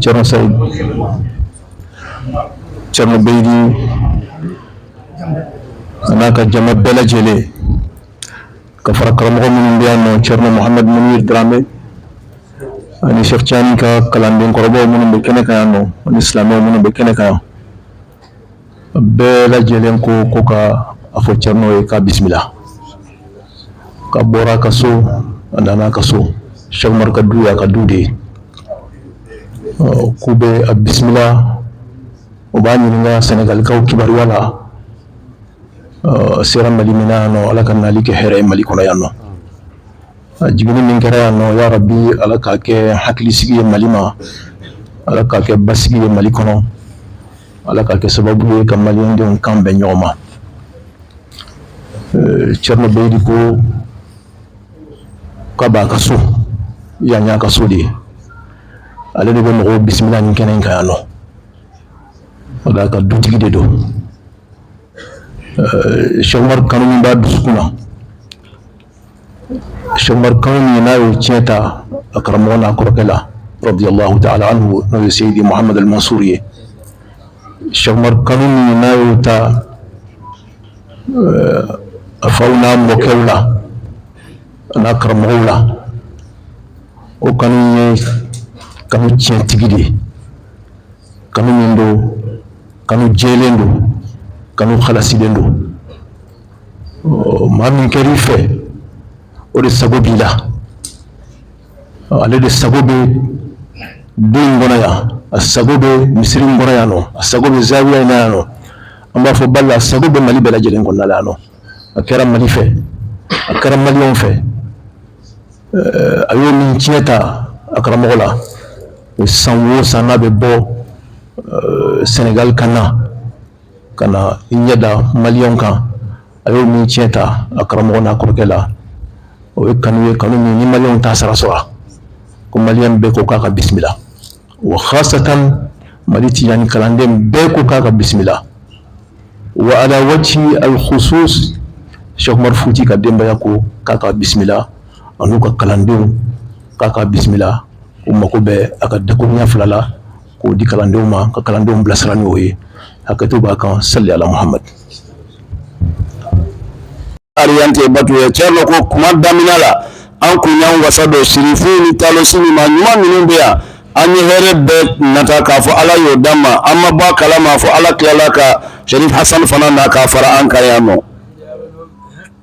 Cerno Saïd Cerno Beydi a n'a ka jama bɛɛ lajɛlen ka fara karamɔgɔ minnu bɛ yan nɔ Cerno Mohamed Munir Dramé ani Cheikh Tijani ka kalanden kɔrɔbaw minnu bɛ kɛnɛ kan yan nɔ ani silamɛw minnu bɛ kɛnɛ kan yan bɛɛ lajɛlen ko ko ka a fɔ Cerno ye k'a bisimila k'a bɔra a ka so a nana a ka so Sɛkumaru ka du y'a ka du de ye k'u bɛ a bisimila u b'a ɲininka sɛnɛgalikaw kibaruya la a sera mali min yan nɔ ala k'a nali kɛ hɛrɛ ye mali kɔnɔ yan nɔ Jiginni min kɛra yan nɔ ya rabi ala k'a kɛ hakilisigi ye mali ma ala k'a kɛ basigi ye mali kɔnɔ ala k'a kɛ sababu ye ka malidenw kan bɛn ɲɔgɔn ma Cerno Beydi ko k'a b'a ka so yan y'a ka so de ye ale de bɛ mɔgɔw bisimila nin kɛnɛ kan yan nɔ ka dutigi de don Sɛkumaru kanu min b'a dusukun na Sɛkumaru kanu min n'a y'o tiɲɛ ta a karamɔgɔ n'a kɔrɔkɛ la radiyalahu taala anhu n'o ye seyidi Mahamadu Mansuru ye, Sɛkumaru kanu min n'a y'o ta a faw n'a mɔkɛw la a n'a karamɔgɔw la o kanu ye kanu tiɲɛtigi de ye, kanu min don kanu jɛlen don kanu halasilen don maa min kɛra i fɛ o de sago b'i la ale de sago bɛ du in kɔnɔ yan a sago bɛ misiri in kɔnɔ yan nɔ a sago bɛ zawiya in yan nɔ an b'a fɔ bala sago bɛ mali bɛɛ lajɛlen kɔnɔna yan nɔ a kɛra mali fɛ a kɛra maliw fɛ a ye min tiɲɛ ta a karamɔgɔ la san wo san n'a bɛ bɔ sɛnɛgali ka na ka na i ɲɛda mali kan a ye min tiɲɛ ta a karamɔgɔ n'a kɔrɔkɛ la o ye kanu ye kanu min ni mali t'a sara sɔrɔ ko mali bɛɛ ko k'a ka bisimila wa hasatan mali Tijani kalanden bɛɛ ko k'a ka bisimila wa ala wajhi alhusus Sɛkumaru Futi ka denbaya ko k'a ka bisimila ani u ka kalandenw k'a ka bisimila u mago bɛ a ka dakuruɲɛ fila la k'o di kalandenw ma ka kalandenw bilasira n'o ye hakɛto b'a kan sali Ala Mahamadu Ariyante Batuye Cɛrinɔ ko kuma daminɛ la an kun y'an wasa don sirifu ni taalosi min ma ɲuman minnu bɛ yan an ye hɛrɛ bɛɛ nata k'a fɔ Ala y'o d'an ma an ma bɔ a kalama fo Ala tilala ka Sɛrifu Hasani fana na k'a fara an kan yan nɔ